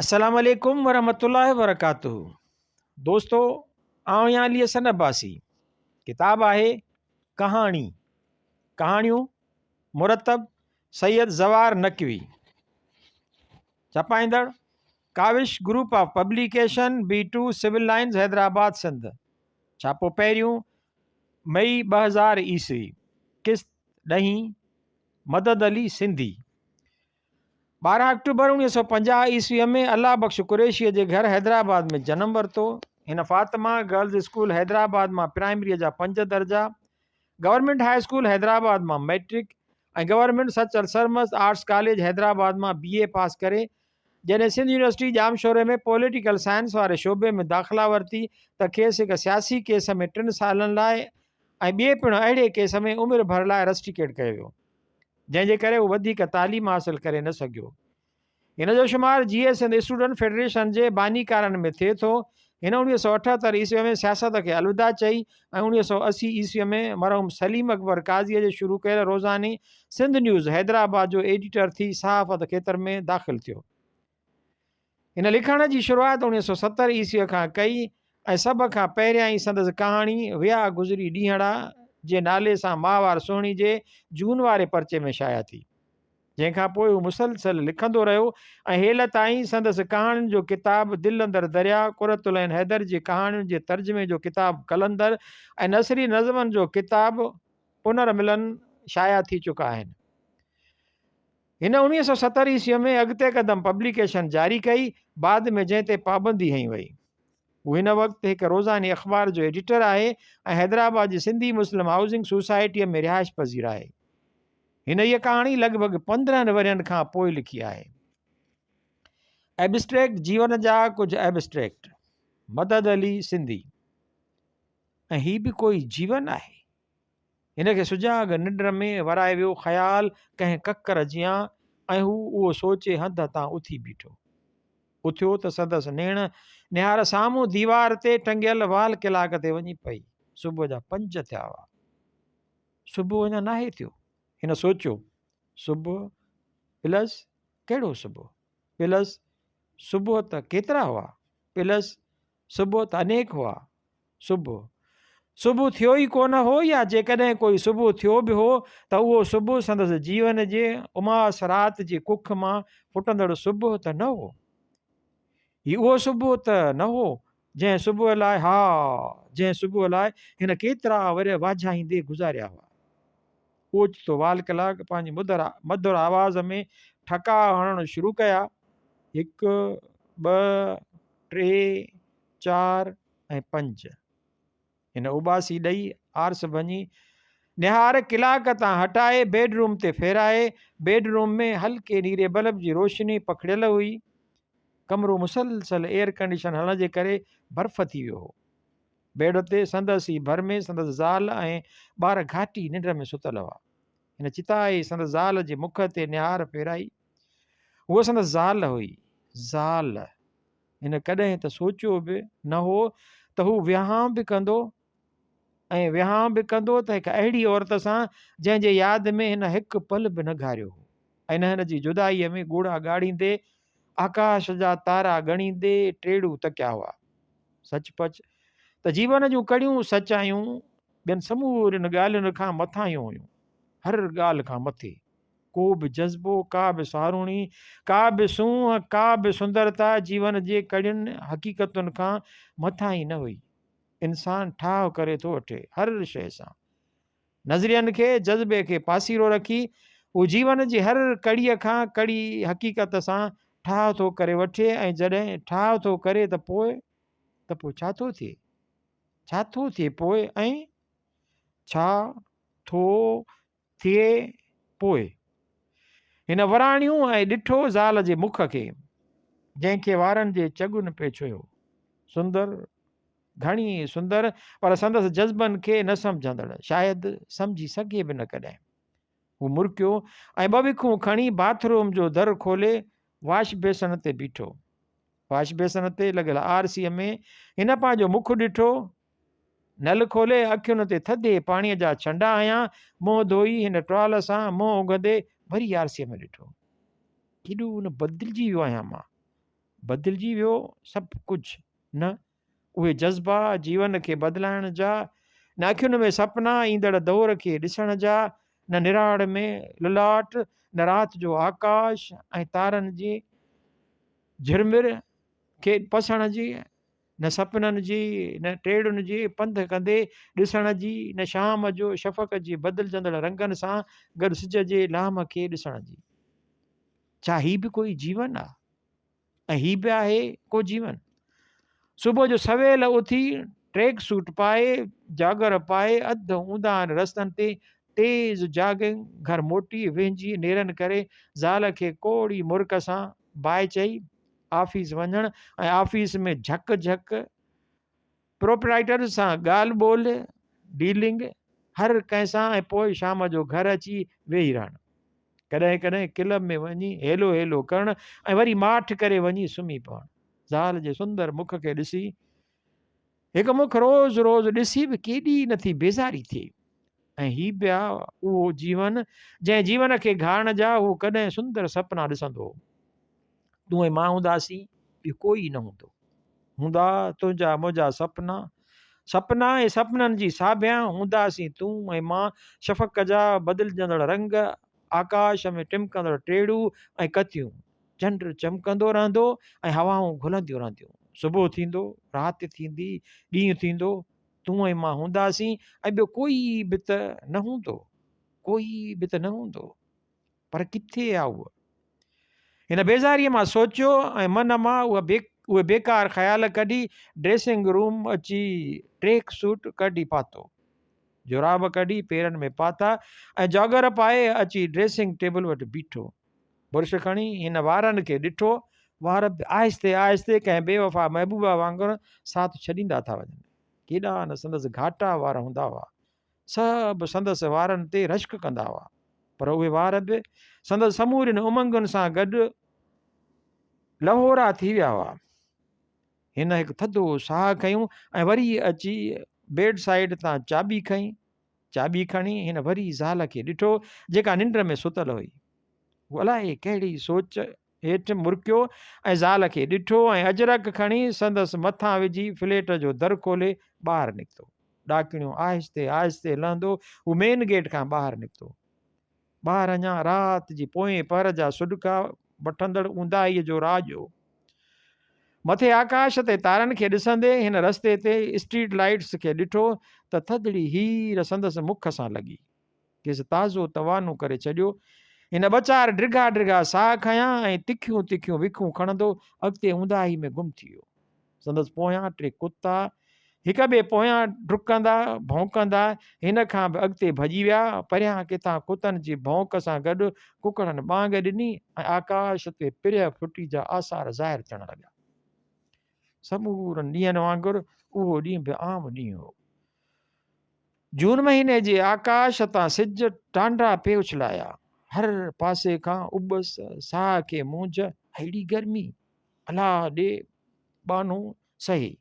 السلام عليڪم ورحمة الله وبرڪاته دوستو آئون يا علي حسن عباسي ڪتاب آهي ڪهاڻي ڪهاڻيون مرتب سيد زوار نقوي ڇپائيندڙ Kawish group of publication B two civil lines Hyderabad Sindh ڇاپو پهريون مئي ٻه هزار عيسوي قسط ڏهين مدد علي سنڌي ٻارهن آڪٽوبر اوڻيهه سؤ پنجاهه عيسويء ۾ الله بخش قريشيء جي گهر حيدرآباد ۾ جنم ورتو. هن فاطمه گرلز اسڪول حيدرآباد مان پرائمريء جا پنج درجا، گورنمينٽ هاء اسڪول حيدرآباد مان matric ۽ government Sachal Sarmast arts college Hyderabad مان بي اي پاس ڪري جڏهن سنڌ يونيورسٽي ڄامشوري ۾ پوليٽيڪل سائنس واري شعبي ۾ داخلا ورتي ته کيس هڪ سياسي ڪيس ۾ ٽن سالن لاء ۽ ٻئي پڻ اهڙي ڪيس ۾ عمر ڀر لاء رسٽيڪيٽ ڪيو ويو. جنهن جي ڪري هو وڌيڪ تعليم حاصل ڪري نه سگهيو. هن جو شمار Jeay Sindh student federation جي بانيڪارن ۾ ٿئي ٿو. هن اڻويهه سؤ اٺهتر عيسوي ۾ سياست کي الوداع چئي ۽ اڻويهه سؤ اسي عيسوي ۾ مرحوم سليم اڪبر قاضيء جي شروع ڪيل روزاني سنڌ نيوز حيدرآباد جو ايڊيٽر ٿي صحافت کيتر ۾ داخل ٿيو. هن لکڻ جي شروعات اڻويهه سؤ ستر عيسويء کان ڪئي ۽ سڀ کان پهريان ئي سندس ڪهاڻي ويا گذري ڏينهڙا جي نالي سان ماهوار سهڻي جي جون واري پرچي ۾ شايع ٿي. جنهن کان پوء هو مسلسل لکندو رهيو ۽ هيل تائين سندس ڪهاڻين جو ڪتاب دل اندر درياء، قرة العين حيدر جي ڪهاڻين جي ترجمي جو ڪتاب قلندر ۽ نثري نظمن جو ڪتاب پنرملن شايع ٿي چڪا آهن. هن اوڻويهه سؤ ستر عيسويء ۾ اڳتي قدم پبليڪيشن جاري ڪئي، بعد ۾ جنهن تي پابندي هنئي وئي. هو هن وقت هڪ روزاني اخبار جو ايڊيٽر آهي ۽ حيدرآباد جي سنڌي مسلم هائوسنگ سوسائٽيء ۾ رهائش پذير آهي. هن هيء ڪهاڻي لڳ ڀڳ پندرهن ورهين کان پوء لکي آهي. ائبسٽريڪٽ جيون جا ڪجهه ائبسٽريڪٽ، مدد علي سنڌي، ۽ هي به ڪوئي جيون آهي؟ هن کي سجاڳ ننڊ ۾ ورائي ويو خيال ڪنهن ڪڪر جيان ۽ هو اهو سوچي هنڌ هتان اٿي بيٺو. اٿيو ته سندس نيڻ نهار سامهون ديوار تي ٽنگيل وال ڪلاڪ تي وڃي پئي. صبح جا پنج ٿيا هئا. صبح اڃا ناهي ٿيو. هن سوچيو صبح پلس ڪهڙو صبح پلس صبح ته ڪيترا هئا پلس صبح ته انيڪ هئا. صبح، صبح ٿيو ئي ڪونه هو يا جيڪڏهن ڪوئي صبح ٿيو به هو ته اهو صبح سندس جيون جي اماس رات جي ڪک مان ڦٽندڙ صبح ته نه هو. هي اهو صبح ته نه هو جنهن صبح لاء، ها، جنهن صبح لاء هن ڪيترا ورهيه واجهائيندي گذاريا هئا. اوچتو وال ڪلاڪ پنهنجي مڌر مڌر آواز ۾ ٺڪاء هڻڻ شروع ڪيا، هڪ، ٻه، ٽي، چار ۽ پنج. هن اوٻاسي ڏئي آرس ڀڃي، نهار ڪلاڪ تان هٽائي بيڊ روم تي ڦيرائي، بيڊ روم ۾ هلڪي نيري بلب جي روشني پکڙيل هئي، ڪمرو مسلسل ايئر ڪنڊيشن هلڻ جي ڪري برف ٿي ويو هو. بيڊ تي سندس ئي ڀر ۾ سندس زال ۽ ٻار گهاٽي ننڊ ۾ ستل هئا. هن چتاء ئي سندس زال جي مک تي نهار ڦيرائي. هوء سندس زال هئي. زال! هن ڪڏهن ته سوچيو به نه هو ته هو ويهانء به ڪندو ۽ ويهانء به ڪندو ته هڪ اهڙي عورت سان جنهن جي ياد ۾ هن هڪ پل به نه گهاريو هو ۽ نه هن جي جدائيء ۾ ڳوڙها ڳاڙيندي آڪاش جا تارا ڳڻيندي ٽيڙو تڪيا هئا. سچ پچ ته جيون جون ڪڙيون سچايون ٻين سمورين ڳالهين کان مٿاهيون هيون. هر ڳالهه کان مٿي ڪو به جذبو، ڪا به ساروڻي، ڪا به سونهن، ڪا به سندرتا جيون جي ڪڙين حقيقتن کان مٿاهين نه هئي. انسان ٺاهه ڪري ٿو وٺي هر شيء سان. نظرين کي، جذبي کي پاسيرو رکي، هو جيون جي هر ڪڙيء کان ڪڙي حقيقت سان ٺاهه ٿو ڪري وٺي ۽ جڏهن ٺاهه ٿو ڪري ته پوء؟ ته پوء ڇا ٿو ٿئي؟ ڇا ٿو ٿئي پوء؟ ۽ ڇا ٿو ٿئي پوء؟ هن وراڻيو ۽ ڏٺو زال جي مک کي، جنهن کي وارن جي چڳن پئي ڇهيو. سندر! ڌڻي سندر پر سندس جذبن کي نه سمجهندڙ شايد سمجهي سگهي به نه ڪڏهن. هو مرڪيو ۽ ٻه وکون کڻي باٿ روم جو در کولي واش بيسڻ تي بيٺو. واش بيسڻ تي لڳل آر سيء ۾ هن پنهنجو مک ڏٺو. نل کولي اکين تي ٿڌي پاڻيء جا ڇنڊا هنيا، منهن ڌوئي هن ٽوال سان منهن اگهندي وري آر سيء ۾ ڏٺو. ڪيڏو نه بدلجي ويو آهيان مان. بدلجي ويو سڀ ڪجهه نه اهي جذبا، جيون کي بدلائڻ جا، نه اکين ۾ سپنا، ايندڙ دور کي ڏسڻ جا، نه نراڙ ۾ للاٽ، نه رات جو آڪاش ۽ تارن جي جھرمر کي پسڻ جي، نه سپنن جي، نه ٽيڙن جي پنڌ ڪندي ڏسڻ جي، نه شام جو شفق جي بدلجندڙ رنگن سان گڏ سج جي لامھ کي ڏسڻ جي. ڇا هي به ڪوئي جيون آ؟ ۽ هي به آهي ڪو جيون. صبح جو سويل اٿي ٽريڪ سوٽ پائي جاگر پائي اڌ اونداهن رستن تي تيز جاگنگ گهر موٽي وهنجي نيرن ڪري زال کي ڪوڙي مرڪ سان باء چئي آفيس وڃڻ ۽ آفيس ۾ جهڪ جهڪ پروپرائيٽر سان ڳالهه ٻولهه، Dealing، هر ڪنهن سان ۽ پوء شام جو گهر اچي ويهي رهڻ. ڪڏهن ڪڏهن ڪلب ۾ وڃي هيلو هيلو ڪرڻ ۽ وري ماٺ ڪري وڃي سمهي پوڻ. زال جي سندر مک کي ڏسي، هڪ مک روز روز ڏسي به ڪيڏي نه ٿي بيزاري ٿئي. ۽ هي پيا اهو جيون، جنهن جيون کي گهارڻ جا هو ڪڏهن سندر سپنا ڏسندو هو. تون ۽ مان هونداسين ٻيو ڪوئي نه هوندو هوندا تنهنجا منهنجا سپنا سپنا ۽ سپنن جي ساڀيان هونداسين تون ۽ مان شفق جا بدلجندڙ رنگ آڪاش ۾ ٽمڪندڙ ٽيڙو ۽ ڪتيون چنڊ چمڪندو رهندو ۽ هوائون گهلنديون رهنديون صبح ٿيندو رات ٿيندي ڏينهن ٿيندو تون ۽ مان هونداسين ۽ ٻيو ڪوئي به ته نه هوندو ڪوئي به ته نه هوندو پر ڪٿي آ هوء؟ هن بيزاريء مان سوچيو ۽ من مان اهي بيڪار خيال ڪڍي ڊريسنگ روم اچي ٽريڪ سوٽ ڪڍي پاتو. جوراب ڪڍي پيرن ۾ پاتا ۽ جاگر پائي اچي ڊريسنگ ٽيبل وٽ بيٺو. برش کڻي هن وارن کي ڏٺو، وار به آهستي آهستي ڪنهن بي وفا محبوبا وانگر ساٿ ڇڏيندا ٿا وڃن. ڪيڏا نه سندس گهاٽا وار هوندا هئا. سڀ سندس وارن تي رشڪ ڪندا هئا، پر اهي وار به سندس سمورين امنگن سان گڏ لهورا ٿي ويا هئا. هن هڪ ٿڌو ساهه کنيو ۽ وري اچي بيڊ سائيڊ تان چاٻي کنئي. چاٻي کڻي هن وري زال کي ڏٺو، جيڪا ننڊ ۾ ستل هئي. هو الائي ڪهڙي سوچ هيٺ مرڪيو ۽ زال کي ڏٺو ۽ اجرڪ کڻي سندس مٿان وجهي فليٽ جو در کولي ٻاهر نڪتو. ڏاڪڻيون آهستي آهستي لهندو هو مين گيٽ کان ٻاهر نڪتو. ٻاهر اڃا رات جي پوئين پهر جا سڏڪا وٺندڙ اونداهيء جو راڄ هو. مٿي آڪاش تي تارن کي ڏسندي هن رستي تي اسٽريٽ لائيٽس کي ڏٺو ته ٿڌڙي هير سندس مک سان لڳي. کيس تازو توانو ڪري ڇڏيو. هن ٻه چار ڊگها ڊگها ساهه کنيا ۽ تکيون تکيون وکون کڻندو اڳتي اونداهي ۾ گم ٿي ويو. سندس پويان ٽي ڪتا هڪ ٻئي پويان ڊڪندا ڀونڪندا هن کان به اڳتي ڀڄي ويا. پريان ڪٿان ڪتن جي ڀونڪ سان گڏ ڪڪڙن ٻانگ ڏني ۽ آڪاش تي پريهه ڦٽي جا آثار ظاهر ٿيڻ لڳا. سمورن ڏينهن وانگر اهو ڏينهن به عام ڏينهن هو جون مهيني جي آڪاش تان سج ٽانڊا پي اڇلايا هر پاسي کان ابس ساهه کي مونجهه اهڙي گرمي الا ڏي ٻانهو سهي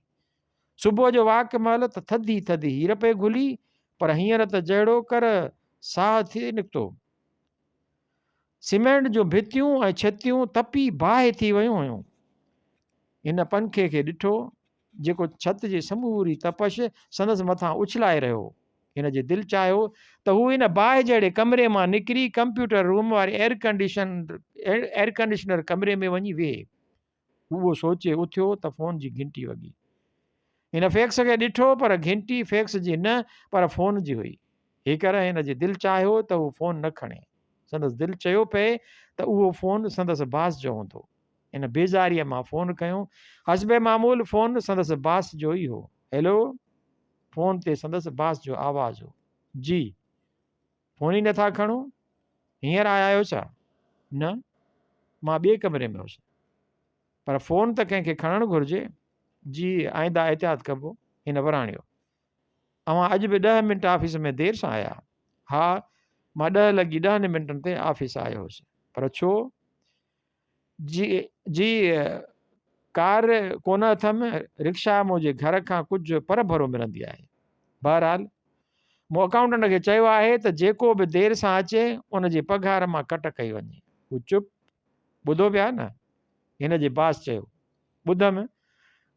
صبح جو واڪ مهل ته ٿڌي ٿڌي هير پئي گهلي پر هينئر ته جهڙو ڪر ساهه ٿي نڪتو سيمينٽ جون ڀتيون ۽ ڇتيون تپي باهه ٿي ويون هيون. هن پنکي کي ڏٺو، جيڪو ڇت جي سموري تپش سندس مٿان اڇلائي رهيو هو. هن جي دل چاهيو ته هو ان باهه جهڙي ڪمري مان نڪري ڪمپيوٽر روم واري ايئرڪنڊيشنر ڪمري ۾ وڃي ويهي. هو سوچي اٿيو ته فون جي گهنٽي وڳي. هن فيڪس کي ڏٺو پر گهنٽي فيڪس جي نه پر فون جي هئي. هيڪر هن جي دل چاهيو ته هو فون نه کڻي. سندس دل چيو پئي ته اهو فون سندس باس جو هوندو. هن بيزاريء مان فون کنيو. حسب معمول فون سندس باس جو ئي هو. هيلو! فون تي سندس باس جو آواز هو. جي. فون ئي نٿا کڻو هينئر آيا آهيو ڇا؟ نه مان ٻئي ڪمري ۾ هوس پر فون ته ڪنهن کي کڻڻ گهرجي جي آئنده احتياط ڪبو هن وراڻيو اوهان اڄ به ڏهه منٽ آفيس ۾ دير سان آيا ها مان ڏهه لڳي ڏهن منٽن تي آفيس آيو هوس پر ڇو جي جي ڪار ڪونه اٿم رڪشا منهنجي گهر کان ڪجهه پر ڀرو ملندي آهي بهرحال مون اڪائونٽنٽ کي چيو آهي ته جيڪو به دير سان اچي ان جي پگهار مان ڪٽ ڪئي وڃي هو چپ ٻڌو پيا نه هن جي باس چيو ٻڌم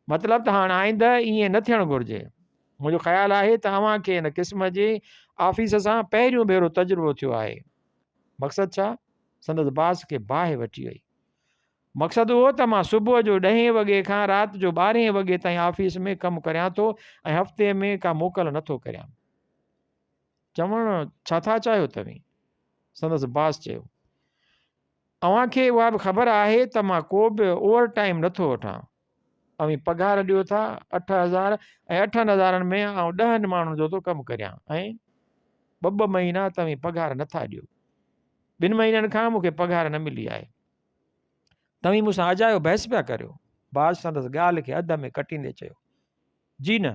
مطلب ته هاڻ آئنده ائين نه ٿيڻ گهرجي منهنجو خيال آهي ته اوهان کي ان قسم جي آفيس سان پهريون ڀيرو تجربو ٿيو آهي مقصد ڇا سندس باس کي باهه وٺي وئي. مقصد اهو ته مان صبح جو ڏهين وڳي کان رات جو ٻارهين وڳي تائين آفيس ۾ ڪم ڪريان ٿو ۽ هفتي ۾ ڪا موڪل نه ٿو ڪريان. چوڻ ڇا ٿا چاهيو توهين؟ سندس باس چيو. اوهان کي اها به خبر آهي ته مان ڪو به اوور ٽائيم نه ٿو وٺان. اوهين پگهار ڏيو ٿا اٺ هزار ۽ اٺن هزارن ۾ آئون ڏهن ماڻهن جو ٿو ڪم ڪريان ۽ ٻه ٻه مهينا توهين پگهار نٿا ڏيو ٻن مهينن کان مون کي پگهار نه ملي آهي توهين مون سان اجايو بحث پيا ڪريو باز سندس ڳالهه کي اڌ ۾ ڪٽيندي چيو جي نه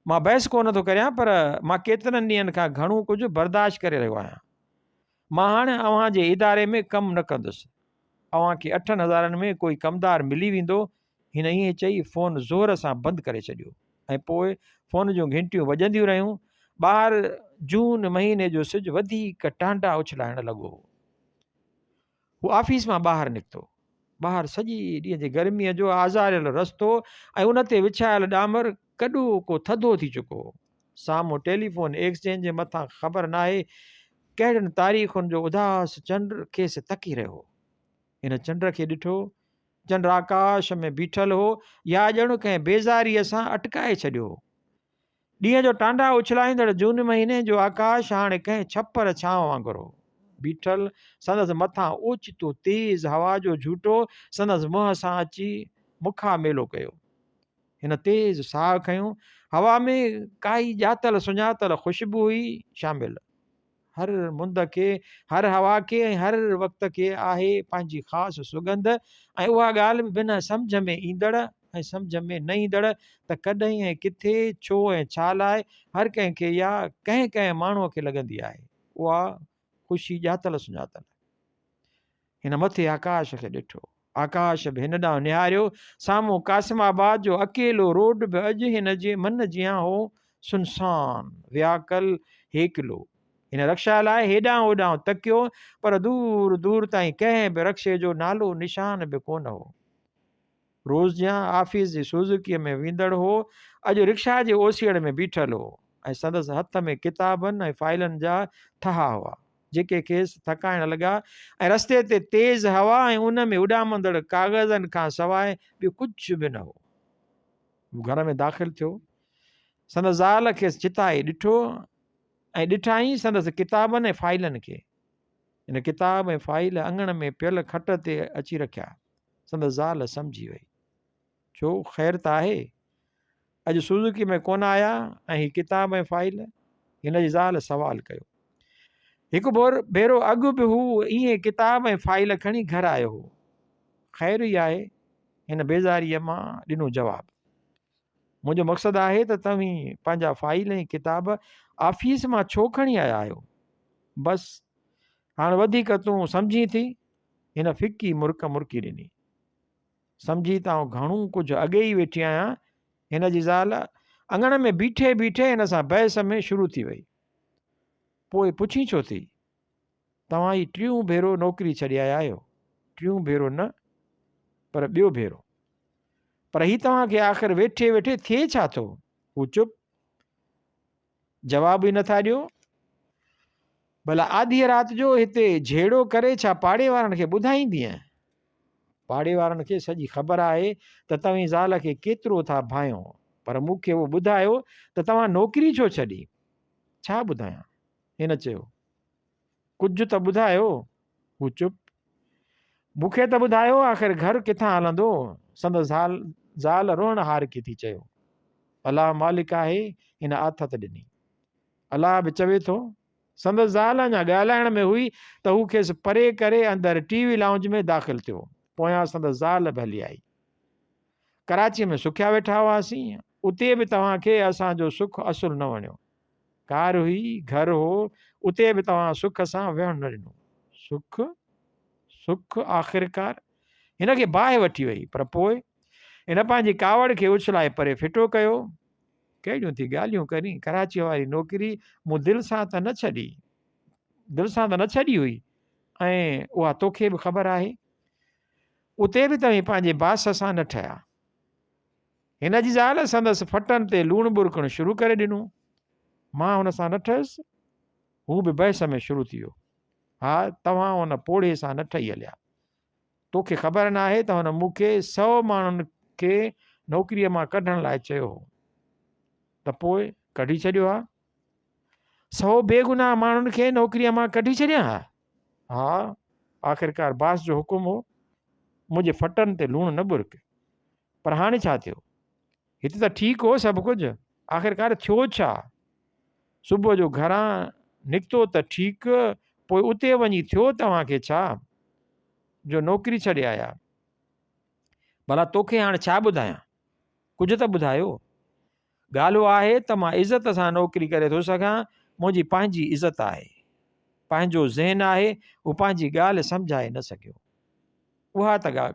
مان بحث ڪو نه ٿو ڪريان پر مان ڪيترن ڏينهن کان گهڻو ڪجهه برداشت ڪري رهيو آهيان مان هاڻي اوهان جي اداري ۾ ڪم نه ڪندس. اوهان کي اٺن هزارن ۾ ڪوئي ڪمدار ملي ويندو. هن ائين چئي فون زور سان بند ڪري ڇڏيو ۽ پوء فون جون گهنٽيون وڄنديون رهيون. ٻاهر جون مهيني جو سج وڌيڪ ٽانڊا اڇلائڻ لڳو هو. هو آفيس مان ٻاهر نڪتو. ٻاهر سڄي ڏينهن جي گرميء جو آزاريل رستو ۽ ان تي وڇايل ڏامر ڪڏو ڪو ٿڌو ٿي چڪو هو. سامهون ٽيليفون ايڪسچينج جي مٿان خبر ناهي ڪهڙين تاريخن جو اداس چنڊ کيس تڪي رهيو هو. هن چنڊ کي ڏٺو. چنڊ آڪاش ۾ بيٺل هو يا ڄڻ ڪنهن بيزاريء سان اٽڪائي ڇڏيو هو. ڏينهن جو ٽانڊا اڇلائيندڙ جون مهيني جو آڪاش هاڻي ڪنهن ڇپر ڇانو وانگر هو بيٺل. سندس مٿان اوچتو تيز هوا جو جهوٽو سندس منهن سان اچي مکا ميلو ڪيو. هن تيز ساهه کنيو. هوا ۾ ڪائي ڄاتل سڃاتل خوشبو هئي شامل. هر مند کي، هر هوا کي ۽ هر وقت کي آهي پنهنجي خاص سڳنڌ ۽ اها ڳالهه به بنهه سمجهه ۾ ايندڙ ۽ سمجهه ۾ نه ايندڙ ته ڪڏهن ۽ ڪٿي، ڇو ۽ ڇا لاء هر ڪنهن کي يا ڪنهن ڪنهن ماڻهوء کي لڳندي آهي. اها. خوشي ڄاتل سڃاتل. هن مٿي آڪاش کي ڏٺو. آڪاش به هن ڏانهن نهاريو. سامهون قاسم آباد جو اڪيلو روڊ به اڄ هن جي من جيان هو، سنسان، وياڪل، هيڪلو. هن رڪشا لاء هيڏانهن هوڏانهن تڪيو، پر دور دور تائين ڪنهن به رڪشي جو نالو نشان به ڪونه هو. روز جيان آفيس جي سوزوڪيء ۾ ويندڙ هو، اڄ رڪشا جي اوسيئڙ ۾ بيٺل هو ۽ سندس هٿ ۾ ڪتابن ۽ فائلن جا ٿها هئا، جيڪي کيس ٿڪائڻ لڳا ۽ رستي تي تيز هوا ۽ ان ۾ اڏامندڙ ڪاغذن کان سواء ٻيو ڪجهه به نه هو. هو گهر ۾ داخل ٿيو. سندس زال کيس چتائي ڏٺو ۽ ڏٺائين سندس ڪتابن ۽ فائلن کي. هن ڪتاب ۽ فائيل اڱڻ ۾ پيل کٽ تي اچي رکيا. سندس زال سمجهي وئي. ڇو، خير ته آهي؟ اڄ سوزوڪي ۾ ڪونه آيا ۽ هي ڪتاب ۽ فائيل؟ هن جي زال سوال ڪيو. هڪ ڀيرو اڳ به هو ايئن ڪتاب ۽ فائيل کڻي گهر آيو هو. خير ئي آهي، هن بيزاريء مان ڏنو جواب. منهنجو مقصد آهي ته توهين پنهنجا فائيل ۽ ڪتاب آفيس مان ڇو کڻي آيا آهيو؟ بس هاڻ وڌيڪ تون سمجهين ٿي؟ هن ڦڪي مرڪ مرڪي ڏني. سمجهي ته آئون گهڻو ڪجهه اڳي ئي ويٺي آهيان. هن جي زال اڱڻ ۾ بيٺي بيٺي هن سان بحث ۾ شروع ٿي وئي. پوء پڇين ڇو ٿي؟ توهان هي ٽيون ڀيرو نوڪري ڇڏي آيا آهيو. ٽيون ڀيرو نه پر ٻيو ڀيرو. پر هي توهان کي آخر ويٺي ويٺي ٿئي ڇا ٿو؟ هو چپ. جواب ئي نه ٿا ڏيو. ڀلا آڌيء رات جو هتي جهيڙو ڪري ڇا پاڙي وارن کي ٻڌائيندينء؟ پاڙي وارن کي سڄي خبر آهي ته توهين زال کي ڪيترو ٿا ڀانئيو. پر مون کي اهو ٻڌايو ته توهان نوڪري ڇو ڇڏي؟ ڇا ٻڌايان؟ هن چيو. ڪجهه ته ٻڌايو. هو چپ. مون کي ته ٻڌايو آخر گهر ڪٿان هلندو؟ سندس زال زال روئڻ هارڪي ٿي چيو. الله مالڪ آهي هن آٿت ڏني. الله به چوي ٿو. سندس زال اڃا ڳالهائڻ ۾ هئي ته هو کيس پري ڪري اندر ٽي وي لائونج ۾ داخل ٿيو. پويان سندس زال به هلي آئي. ڪراچيء ۾ سکيا ويٺا هئاسين. اتي به توهان کي اسان جو سک اصل نه وڻيو. ڪار هئي، گهر هو، اتي به توهان سک سان ويهڻ نه ڏنو. سک؟ سک آخرڪار هن کي باهه وٺي وئي، پر پوء؟ هن پنهنجي ڪاوڙ کي اڇلائي پري ڦٽو ڪيو. ڪهڙيون ٿي ڳالهيون ڪرين، ڪراچيء واري نوڪري مون دل سان ته نه ڇڏي، دل سان ته نه ڇڏي هئي، ۽ اها توکي به خبر آهي. اتي به توهين پنهنجي باس سان نه ٺهيا. هن جي زال سندس ڦٽن تي لوڻ ٻرڪڻ شروع ڪري ڏنو. مان هن سان نه ٺهيس. هو به بحث ۾ شروع ٿي ويو. ها، توهان ان پوڙهي سان نه ٺهي هليا. تو کي خبر ناهي ته هن مون کي سؤ ماڻهن کي نوڪريء مان ڪڍڻ لاء چيو هو. ته پوء ڪڍي ڇڏيو ها. سؤ بيگناهه ماڻهن کي نوڪريء مان ڪڍي ڇڏيان ها؟ ها، آخرڪار باس جو حڪم هو، منهنجي ڦٽن تي لوڻ نه ٻرڪ. پر هاڻي ڇا ٿيو؟ هتي ته ٺيڪ هو سڀ ڪجهه، آخرڪار ٿيو ڇا؟ صبح جو گهران نڪتو ته ٺيڪ، پوء اتي وڃي ٿيو توهان کي ڇا، جو نوڪري ڇڏي آيا؟ ڀلا توکي هاڻي ڇا ٻڌايان؟ ڪجهه ته ٻڌايو. ڳالهه اها آهي ته مان عزت سان نوڪري ڪري ٿو سگهان، منهنجي پنهنجي عزت آهي، پنهنجو ذهن آهي، هو پنهنجي ڳالهه سمجهائي نه سگهيو. اها ته ڳا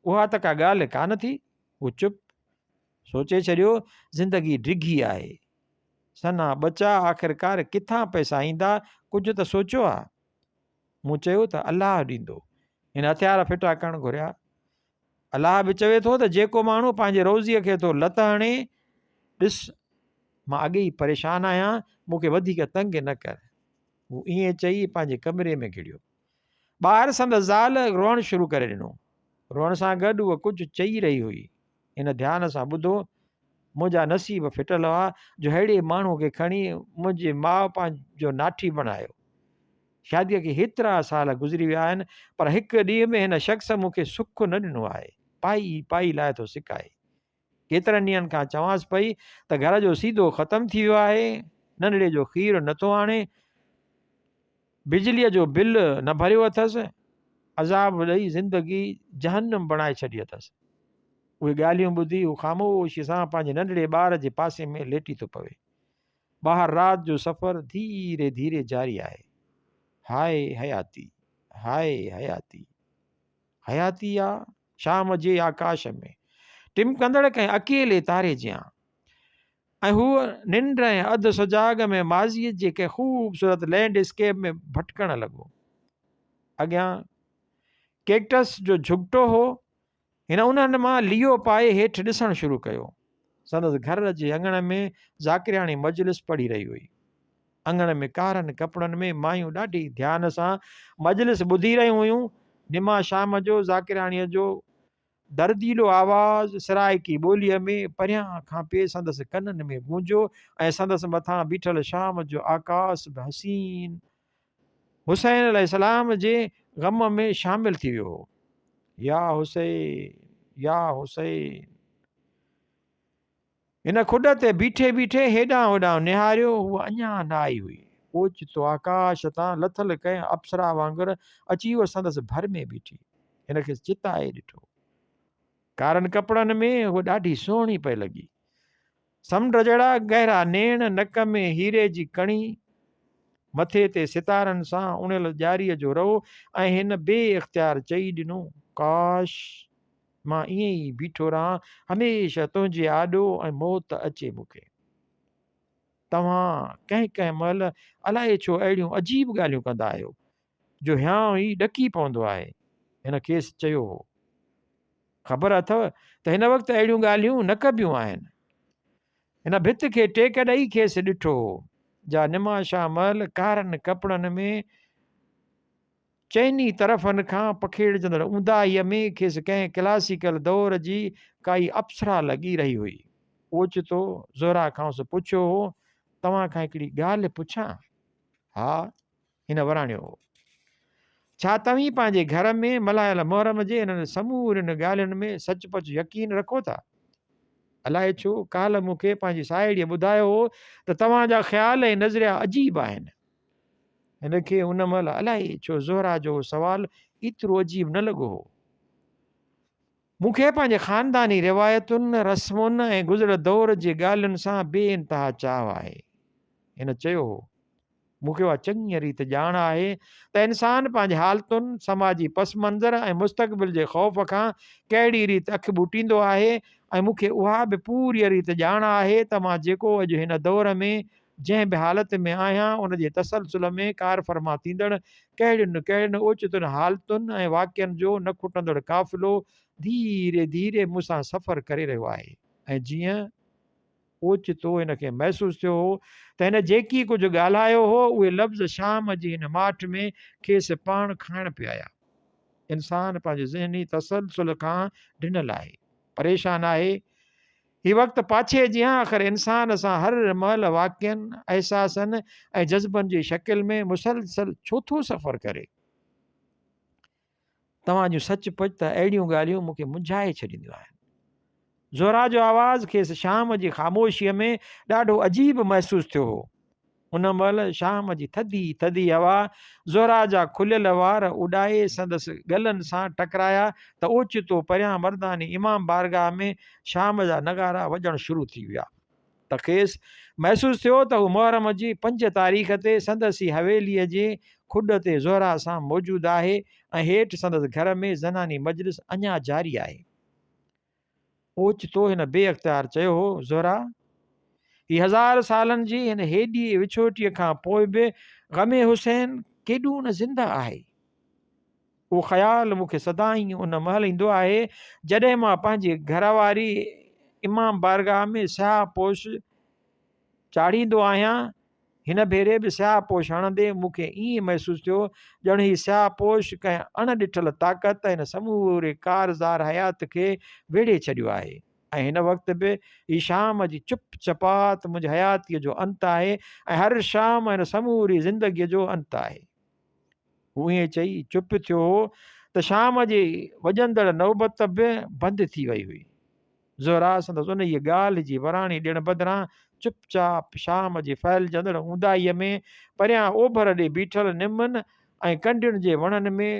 اها ته ڪا ڳالهه ڪانه ٿي. هو چپ. سوچي ڇڏيو، زندگي ڊگهي آهي. سنا ٻچا آخرڪار ڪٿان پئسا ايندا، ڪجهه ته سوچيو ها. مون چيو ته الله ڏيندو. هن هٿيار ڦٽا ڪرڻ گهريا. الله به چوي ٿو ته جيڪو ماڻهو پنهنجي روزيء کي ٿو لت هڻي ڏس مان اڳي ئي پريشان آهيان مون کي وڌيڪ تنگ نه ڪر هو ائين چئي پنهنجي ڪمري ۾ گهڙيو ٻاهر سندس زال روئڻ شروع ڪري ڏنو روئڻ سان گڏ هوء ڪجهه چئي رهي هئي هن ڌيان سان ٻڌو منهنجا نصيب ڦٽل هئا جو ههڙي ماڻهو کي کڻي منهنجي ماء پنهنجو ناٺي بڻايو شاديء کي هيترا سال گذري ويا آهن، پر هڪ ڏينهن به هن شخص مون کي سک نه ڏنو آهي. پائي ئي پائي لاء ٿو سڪائي. ڪيترن ڏينهن کان چوانس پئي ته گهر جو سيڌو ختم ٿي ويو آهي، ننڍڙي جو کير نه ٿو آڻي، بجليء جو بل نه ڀريو اٿس، عذاب ڏئي زندگي جهنم بڻائي ڇڏي اٿس. اهي ڳالهيون ٻڌي هو خاموشيء سان پنهنجي ننڍڙي ٻار جي پاسي ۾ ليٽي ٿو پوي. ٻاهر رات جو سفر ڌيري ڌيري جاري آهي. هاء حياتي! هاء حياتي! حياتي آ شام جي آڪاش ۾ ٽمڪندڙ ڪنهن اڪيلي تاري جيان ۽ هوء ننڊ ۽ اڌ سجاڳ ۾ ماضيء جي ڪنهن خوبصورت لينڊ اسڪيپ ۾ ڀٽڪڻ لڳو. اڳيان ڪيڪٽس جو جهڳٽو هو. هن انهن مان ليئو پائي هيٺ ڏسڻ شروع ڪيو. سندس گهر جي اڱڻ ۾ ذاڪرياڻي مجلس پڙهي رهي هئي. اڱڻ ۾ ڪارن ڪپڙن ۾ مايون ڏاڍي ڌيان سان مجلس ٻڌي رهيون هيون. نما شام جو ذاڪرياڻيء جو درديلو آواز سرائيڪي ٻوليء ۾ پريان کان پئي سندس ڪنن ۾ گونجيو ۽ سندس مٿان بيٺل شام جو آڪاس به حسين حسين عليه السلام جي غم ۾ شامل ٿي ويو هو. يا حسين يا حسين. هن کڏ تي بيٺي بيٺي هيڏانهن هوڏانهن نهاريو، هوء اڃا نه آئي هئي. اوچتو آڪاش تان لٿل ڪنهن اپسرا وانگر اچي هوء سندس ڀر ۾ بيٺي، هن کيس چتائي ڏٺو. ڪارن ڪپڙن ۾ هوء ڏاڍي سهڻي پئي لڳي. سمنڊ جهڙا گهرا نيڻ، نڪ ۾ هيري جي ڪڻي، مٿي تي ستارن سان اڻيل ڄاري جو رئو ۽ هن بي اختيار چئي ڏنو، ڪاش! مان ائين ئي بيٺو رهان هميشه تنهنجي آڏو ۽ موت اچي مون کي. توهان ڪنهن ڪنهن مهل الائي ڇو اهڙيون عجيب ڳالهيون ڪندا آهيو، جو هيانء هي ڏڪي پوندو آهي. هن کيس چيو هو. خبر اٿو ته هن وقت اهڙيون ڳالهيون نه ڪبيون آهن. هن ڀت کي ٽيڪ ڏئي کيس ڏٺو هو، جا نماشان مهل ڪارن ڪپڙن ۾ چئني طرفن کان پکيڙجندڙ اونداهيء ۾ کيس ڪنهن ڪلاسيڪل دور جي ڪائي اپسرا لڳي رهي هئي. اوچتو زهره کانئس پڇيو هو، توهان کان هڪڙي ڳالهه پڇان؟ ها. هن وراڻيو هو. ڇا توهين پنهنجي گهر ۾ ملهايل محرم جي انهن سمورين ڳالهين ۾ سچ پچ يقين رکو ٿا؟ الائي ڇو ڪالهه مون کي پنهنجي ساهيڙيء ٻڌايو هو ته توهان جا خيال ۽ نظريا عجيب آهن. هن کي ان مهل الائي ڇو زهره جو اهو سوال ايترو عجيب نه لڳو هو. مون کي پنهنجي خانداني روايتن، رسمن ۽ گذريل دور جي ڳالهين سان بي انتها چاهه آهي. هن چيو هو، مون کي اها چڱيء ريت ڄاڻ آهي ته انسان پنهنجي حالتن، سماجي پس منظر ۽ مستقبل جي خوف کان ڪهڙيء ريت اک ٻوٽيندو آهي ۽ مون کي اها به پوريء ريت ڄاڻ آهي ته مان جيڪو اڄ هن دور ۾ جنهن به حالت ۾ آهيان ان جي تسلسل ۾ ڪارفرما ٿيندڙ ڪهڙين نه ڪهڙين اوچتن حالتن ۽ واقعن جو نه کٽندڙ قافلو ڌيري ڌيري مون سان سفر ڪري رهيو آهي ۽ جيئن اوچتو هن کي محسوس ٿيو هو ته هن جيڪي ڪجهه ڳالهايو هو اهي لفظ شام جي هن ماٺ ۾ کيس پاڻ کائڻ پيا آيا. انسان پنهنجي ذهني تسلسل کان ڊنل آهي، پريشان آهي، هي وقت پاڇي جيان آخر انسان سان هر مهل واقعن، احساسن ۽ جذبن جي شڪل ۾ مسلسل ڇو ٿو سفر ڪري؟ توهان جون سچ پچ ته اهڙيون ڳالهيون مون کي منجهائي ڇڏينديون آهن. زهرا جو آواز کيس شام جي خاموشيء ۾ ڏاڍو عجيب محسوس ٿيو هو. ان مهل شام جي ٿڌي ٿڌي هوا زهره جا کليل وار اڏائي سندس ڳلن سان ٽڪرايا ته اوچتو پريان مرداني امام بارگاهه ۾ شام جا نغارا وڄڻ شروع ٿي ويا ته کيس محسوس ٿيو ته هو محرم جي پنج تاريخ تي سندس ئي حويليء جي کڏ تي زهره سان موجود آهي ۽ هيٺ سندس گهر ۾ زناني مجلس اڃا جاري آهي. اوچتو هن بي اختيار چيو هو، زهره! هي هزار سالن جي هن هيڏيء وڇوٽيء کان پوء به غم حسين ڪيڏو نه زنده آهي. اهو خيال مون کي سدائين ان مهل ايندو آهي، جڏهن مان پنهنجي گهر واري امام بارگاهه ۾ سياهه پوش چاڙهيندو آهيان، هن ڀيري به سياهه پوش هڻندي مون کي ائين محسوس ٿيو ڄڻ هي سياهه پوش ڪنهن اڻ ڏٺل طاقت هن سموري ڪارزار حيات کي ويڙهي ڇڏيو آهي ۽ هن وقت به هي شام جي چپ چپات منهنجي حياتيء جو انت آهي ۽ هر شام هن سموري زندگيء جو انت آهي. هو ائين چئي چپ ٿيو هو ته شام جي وڄندڙ نوبت به بند ٿي وئي هئي. زهره سندس انهيء ڳالهه جي وراڻي ڏيڻ بدران چپ چاپ شام جي ڦهلجندڙ اونداهيء ۾ پريان اوڀر ڏي بيٺل نمن ۽ ڪنڊين جي وڻن ۾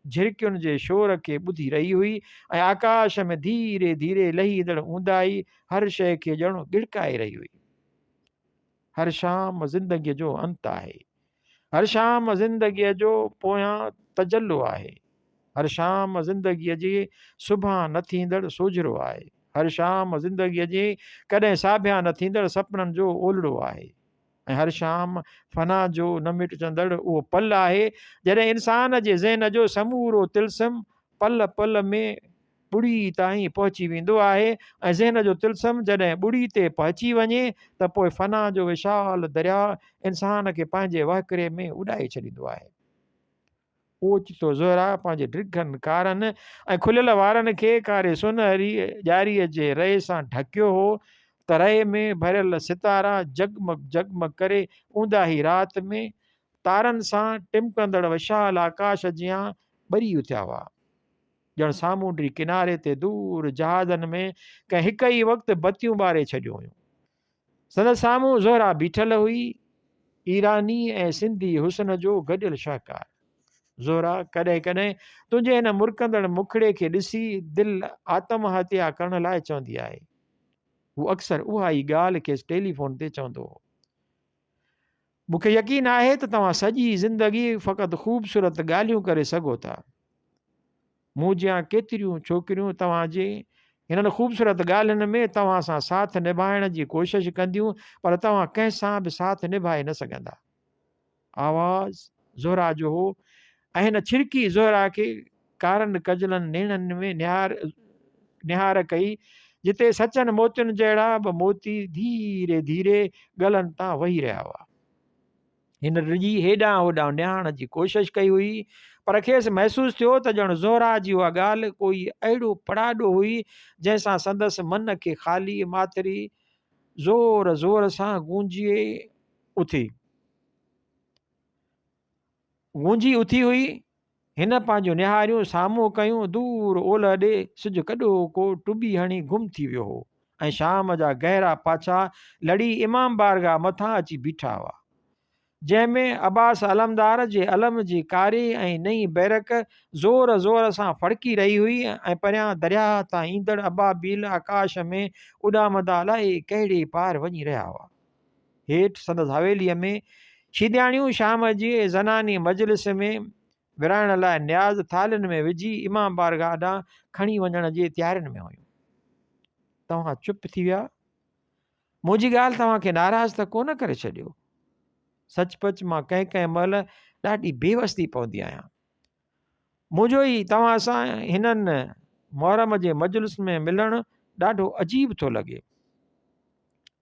جهرڪين جي شور کي ٻڌي رهي هئي ۽ آڪاش ۾ ڌيري ڌيري لهيندڙ اونداهي هر شيء کي ڄڻ ڳڙڪائي رهي هئي. هر شام زندگيء جو انت آهي. هر شام زندگيء جو پويان تجلو آهي. هر شام زندگيء جي صبحان نه ٿيندڙ سوجهرو آهي. هر شام زندگيء جي ڪڏهن ساڀيان نه ٿيندڙ سپنن جو اولڙو آهي. ۽ هر شام فنا جو نه مٽجندڙ اهو پل آهي، جڏهن انسان جي ذهن جو سمورو طلسم پل پل ۾ ٻڙي تائين پهچي ويندو آهي ۽ ذهن جو طلسم جڏهن ٻڙي تي پهچي وڃي ته پوء فنا جو وشال درياء انسان کي پنهنجي وهڪري ۾ اڏائي ڇڏيندو آهي. اوچتو زهره پنهنجي ڊگهن ڪارن ۽ کليل وارن کي ڪاري سونهري ڄاري جي رئي سان ڍڪيو هو ته رئي ۾ ڀريل ستارا جڳمڳ جڳمڳ ڪري اونداهي رات ۾ تارن سان ٽمڪندڙ وشال آڪاش جيان ٻري اٿيا هئا. ڄڻ سامونڊي ڪناري تي دور جهازن ۾ ڪنهن هڪ ئي وقت بتيون ٻاري ڇڏيون هيون. سندس سامهون زهرا بيٺل هئي، ايراني ۽ سنڌي حسن جو گڏيل شاهڪار. زهرا ڪڏهن ڪڏهن تنهنجي هن مرڪندڙ مکڙي کي ڏسي دل آتم هتيا ڪرڻ لاء چوندي آهي. هو اڪثر اها ئي ڳالهه کيس ٽيليفون تي چوندو هو. مونکي يقين آهي ته توهان سڄي زندگي فقط خوبصورت ڳالهيون ڪري سگهو ٿا مون جيان ڪيتريون ڇوڪريون توهان جي انهن خوبصورت ڳالهين ۾ توهان سان ساٿ نڀائڻ جي ڪوشش ڪنديون پر توهان ڪنهن سان به ساٿ نڀائي نه سگهندا آواز زهرا جو هو ۽ هن ڇرڪي زهرا کي ڪارن ڪجلن نيڻن ۾ نهار نهار ڪئي، جتي سچن موتين جهڙا به موتي ڌيري ڌيري ڳلن تان وهي رهيا هئا. هن ڊڄي هيڏانهن هوڏانهن نهاڻ جي ڪوشش ڪئي هئي، پر کيس محسوس ٿيو ته ڄڻ زهره جي اها ڳالهه ڪوئي اهڙو پڙاڏو هئي، جنهن سان سندس من کي خاليء ماٿري زور زور سان گونجي اٿي گونجي اٿي هئي. هن پنهنجون نهاريون سامهون ڪيون، دور اولهه ڏي سج ڪڏو ڪو ٽٻي هڻي گم ٿي ويو هو ۽ شام جا گهرا پاڇا لڙي امام بارگاهه مٿان اچي بيٺا هئا، جنهن ۾ عباس علمدار جي علم جي ڪاري ۽ نئين بيرڪ زور زور سان ڦڙڪي رهي هئي ۽ پريان درياهه تان ايندڙ ابابيل آڪاش ۾ اڏامندا لاهي ڪهڙي پار وڃي رهيا هئا. هيٺ سندس حويليء ۾ شيدياڻيون شام جي زناني مجلس ۾ ورهائڻ لاء نياز ٿالهين ۾ وجهي امام بارگاهه ڏانهن کڻي وڃڻ جي تيارين ۾ هيون. توهان چپ ٿي ويا؟ منهنجي ڳالهه توهان کي ناراض ته ڪو نه ڪري ڇڏيو؟ سچ پچ مان ڪنهن ڪنهن مهل ڏاڍي بيوس ٿي پوندي آهيان. منهنجو هي توهان سان هنن محرم جي مجلس ۾ ملڻ ڏاڍو عجيب ٿو لڳي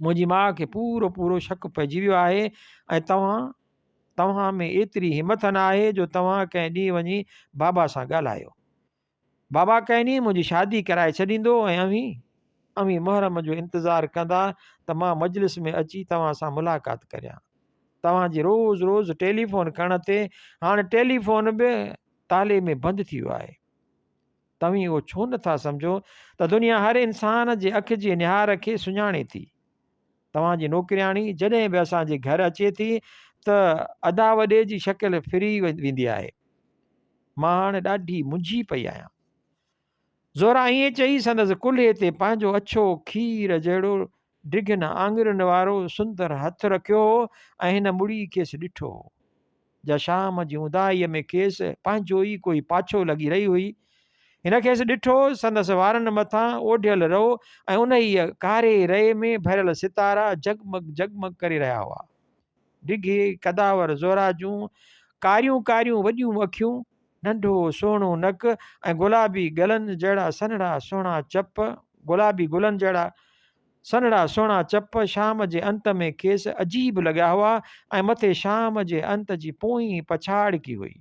منهنجي ماء کي پورو پورو شڪ پئجي ويو آهي ۽ توهان توهان ۾ ايتري همٿ نه آهي جو توهان ڪنهن ڏينهن وڃي بابا سان ڳالهايو بابا ڪنهن ڏينهن منهنجي شادي ڪرائي ڇڏيندو ۽ اوهين اوهين محرم جو انتظار ڪندا ته مان مجلس ۾ اچي توهان سان ملاقات ڪريان توهان جي روز روز ٽيليفون ڪرڻ تي هاڻي ٽيليفون به تالي ۾ بند ٿي ويو آهي. توهين اهو ڇو نه ٿا سمجهو ته دنيا هر انسان جي اک جي نهار کي سڃاڻي ٿي. توهان جي نوڪرياڻي جڏهن به اسان جي گهر اچي ٿي ته ادا وڏي جي شڪل ڦري ويندي آهي. مان هاڻي ڏاڍي منجهي پئي آهيان. زهره ائين چئي سندس ڪلهي تي پنهنجو اڇو کير جهڙو ڊگهين آڱرين وارو سندر هٿ رکيو هو ۽ هن مڙي کيس ڏٺو هو جا شام جي اونداهيء ۾ کيس پنهنجو ئي ڪوئي پاڇو لڳي رهي هئي هن کيس ڏٺو سندس وارن مٿان اوڍيل رئو ۽ انهيء ڪاري رئي ۾ ڀريل ستارا جگمگ جگمگ ڪري رهيا هئا ڊگهي قداور زهره جون ڪاريون ڪاريون وڏيون اکيون ننڍو سهڻو نڪ ۽ گلابي گلن جهڙا سنهڙا سهڻا چپ گلابي گلن جهڙا سنهڙا سهڻا چپ شام جي انت ۾ کيس عجيب لڳيا هئا ۽ مٿي شام جي انت جي پوئين پڇاڙڪي هئي.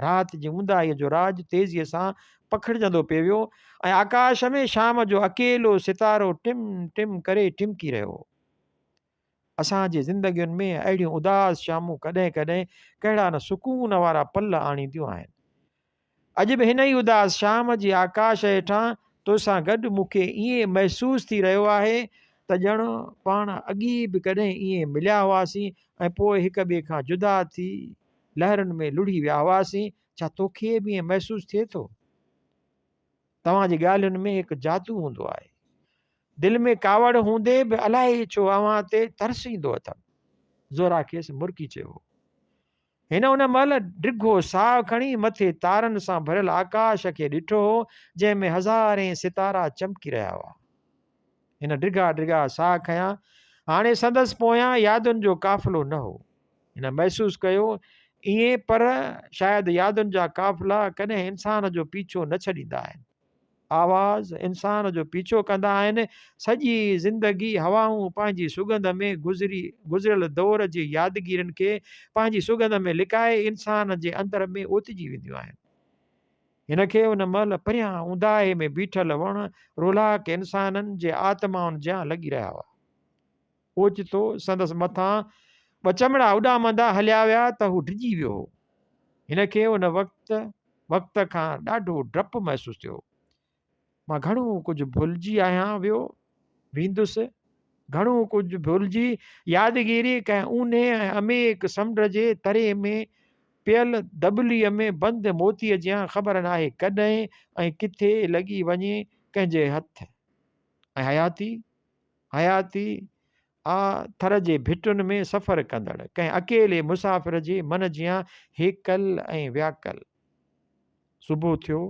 رات جي اونداهيء جو راڄ تيزيء سان پکڙجندو پئي ويو ۽ آڪاش ۾ شام جو اڪيلو ستارو ٽم ٽم ڪري ٽمڪي رهيو هو. اسان جي زندگين ۾ اهڙيون اداس شامون ڪڏهن ڪڏهن ڪهڙا نه سڪون وارا پل آڻينديون آهن. اڄ به هن ئي اداس شام جي آڪاش هيٺان توسان گڏ مون کي ائين محسوس ٿي رهيو آهي ته ڄڻ پاڻ اڳي به ڪڏهن ائين مليا هئاسين ۽ پوء هڪ ٻئي کان جدا ٿي لهرن ۾ لڙهي ويا هئاسين. ڇا توکي به ائين محسوس ٿئي ٿو؟ توهان جي ڳالهين ۾ هڪ جادو هوندو آهي. دل ۾ ڪاوڙ هوندي به الائي ڇو اوهان تي ترس ايندو اٿم. زورا کيس مرڪي چيو هو. هن ان مهل ڊگهو ساهه کڻي مٿي تارن سان ڀريل آڪاش کي ڏٺو هو، جنهن ۾ هزارين ستارا چمڪي رهيا هئا. هن ڊگها ڊگها ساهه کنيا. هاڻي سندس پويان يادن جو قافلو نه هو. هن محسوس ڪيو ائين پر شايد يادن جا قافلا ڪڏهن انسان جو پيڇو نه ڇڏيندا آهن. آواز انسان جو پيڇو ڪندا آهن. سڄي زندگي هوائون پنهنجي سڳنڌ ۾ گذري گذريل دور جي يادگيرين کي پنهنجي سڳنڌ ۾ لڪائي انسان جي اندر ۾ اوتجي وينديون آهن. هن کي ان مهل پريان اونداهي ۾ بيٺل وڻ رولهاڪ انسانن جي آتمائن جيان لڳي رهيا هئا. اوچتو سندس مٿان ٻه چمڙا اڏامندا هليا ويا ته هو ڊڄي ويو هو. هن کي ان وقت وقت کان ڏاڍو ڊپ محسوس ٿيو. مان گهڻو ڪجهه ڀلجي آهيان ويو ويندس. گهڻو ڪجهه ڀلجي يادگيري ڪنهن اونهي ۽ عميق سمنڊ جي تري ۾ پيل دٻلي ۾ بند موتي جيان خبر ناهي ڪڏهن ۽ ڪٿي لڳي وڃي ڪنهن جي هٿ ۽ حياتي حياتي آ ٿر جي ڀٽن ۾ سفر ڪندڙ ڪنهن اڪيلي مسافر جي من جيان هيڪل ۽ وياڪل. صبح ٿيو.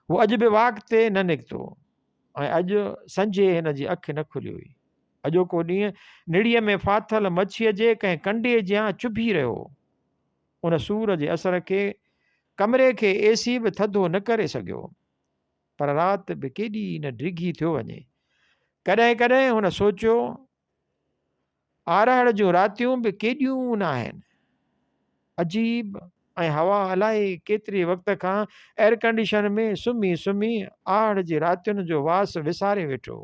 هو اڄ به واڪ تي نه نڪتو ۽ اڄ سنجهي هن جي اک نه کلي هئي. اڄوڪو ڏينهن نڙيء ۾ ڦاٿل مڇيء جي ڪنهن ڪنڊي جيان چڀي رهيو هو. ان سور جي اثر کي ڪمري کي اي سي به ٿڌو نه ڪري سگهيو. پر رات به ڪيڏي نه ڊگهي ٿيو وڃي. ڪڏهن ڪڏهن هن سوچيو، آرهڙ جون راتيون به ڪيڏيون نه آهن. عجيب ۽ هوا الائي ڪيتري وقت کان ايئرڪنڊيشن ۾ سمهي سمهي آرهڙ جي راتين جو واس وساري ويٺو.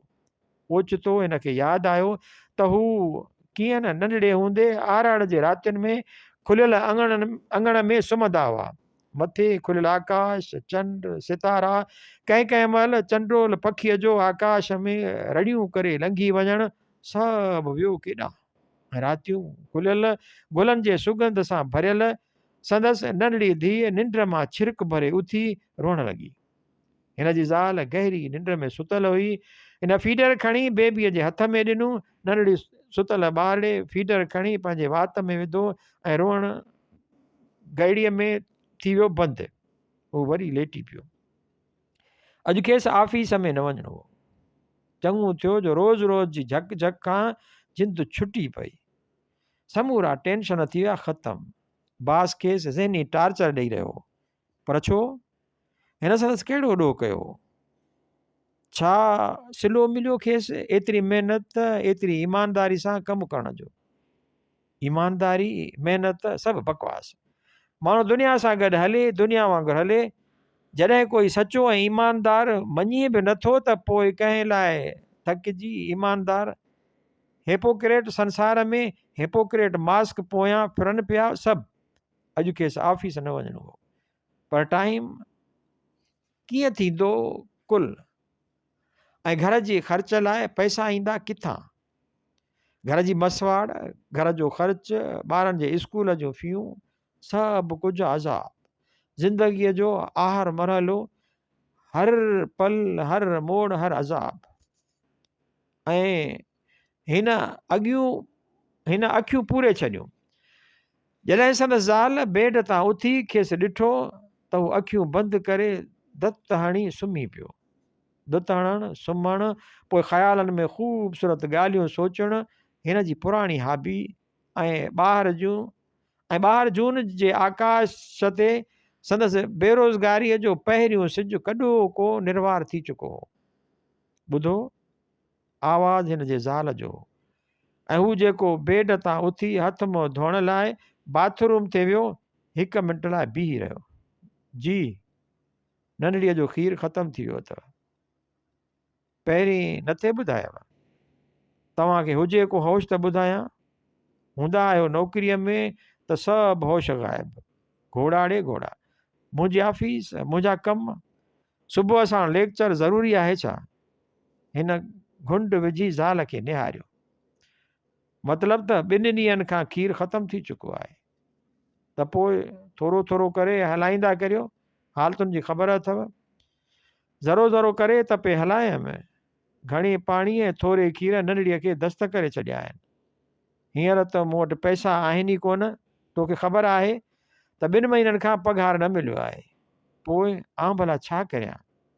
اوچتو هن کي ياد آيو ته هو ڪيئن نه ننڍڙي هوندي آراڙ جي راتين ۾ کليل اڱڻ اڱڻ ۾ سمهندا هئا. مٿي کليل آڪاش، چنڊ، ستارا، ڪنهن ڪنهن مهل چنڊول پکيء جو آڪاش ۾ رڙيون ڪري لنگهي وڃڻ سڀ ويو ڪيڏانهن. راتيون کليل گلن جي سگنڌ سان ڀريل سندس ننڍڙي ڌيء ننڊ مان ڇرڪ ڀري اٿي روئڻ لڳي. هن جي زال گهري ننڊ ۾ ستل هئي. هن فيڊر کڻي بيبيء جي هٿ ۾ ڏنو. ننڍڙي ستل ٻارڙي فيڊر کڻي پنهنجي وات ۾ وڌو ۽ روئڻ گهڙيء ۾ ٿي ويو بند. هو وري ليٽي پيو. اڄ کيس آفيس ۾ نه وڃڻو هو. چڱو ٿيو جو روز روز جي جھڪ جھڪ کان جند ڇٽي پئي. سمورا ٽينشن ٿي ويا ختم. باس کيس ذهني ٽارچر ڏئي رهيو هو. پر ڇو؟ هن سندس ڪهڙو ڏوهه ڪيو هو؟ ڇا سلو مليو کيس ايتري محنت ايتري ايمانداري سان ڪم ڪرڻ جو ايمانداري محنت سڀ بڪواس ماڻهو دنيا سان گڏ هلي دنيا وانگر هلي جڏهن ڪوئي سچو ۽ ايماندار مڃي به نٿو ته پوء ڪنهن لاء ٿڪجي ايماندار هيپوڪريٽ سنسار ۾ هيپوڪريٽ ماسڪ پويان ڦرن پيا سڀ اڄ کيس آفيس نه وڃڻو هو پر ٽائيم ڪيئن ٿيندو ڪل ۽ گهر جي خرچ لاء پئسا ايندا ڪٿان گهر جي مسواڙ گهر جو خرچ ٻارن جي اسڪول جون فيون سڀ ڪجهه عذاب زندگيء جو آهر مرحلو هر پل هر موڙ هر عذاب ۽ هن اڳيون هن اکيون پوري ڇڏيون. جڏهن سندس زال بيڊ تان اٿي کيس ڏٺو ته هو اکيون بند ڪري دت هڻي سمهي پيو. دت هڻڻ، سمهڻ، پوء خيالن ۾ خوبصورت ڳالهيون سوچڻ هن جي پراڻي هابي ۽ ٻاهر جون ۽ ٻاهر جون جي آڪاش تي سندس بيروزگاري جو پهريون سج ڪڏو ڪو نروار ٿي چڪو هو. ٻڌو! آواز هن جي زال جو هو ۽ هو جيڪو بيڊ تان اٿي هٿ منهن ڌوئڻ لاء باٿ روم تي ويو، هڪ منٽ لاء بيهي رهيو. جي، ننڍڙيء جو کير ختم ٿي ويو اٿئو. پهرين نه ٿي ٻڌايو. توهان کي هجي ڪو هوش ته ٻڌايان. هوندا آهيو نوڪريء ۾ ته سڀ هوش غائب. گهوڙاڙي گهوڙا. منهنجي آفيس، منهنجا ڪم. صبح ساڻ ليڪچر ضروري آهي ڇا؟ هن گهنڊ وجهي زال کي نهاريو. مطلب ته ٻن ڏينهن کان کير ختم ٿي چڪو آهي ته پوء ٿورو ٿورو ڪري هلائيندا ڪريو حالتن جي خبر اٿو ذرو ذرو ڪري ته پي هلايم گهڻي پاڻي ۽ ٿوري کير ننڙيء کي دست ڪري ڇڏيا آهن هينئر ته مون وٽ پئسا آهن ئي ڪونه توکي خبر آهي ته ٻن مهينن کان پگهار نه مليو آهي پوء آئون ڀلا ڇا ڪريان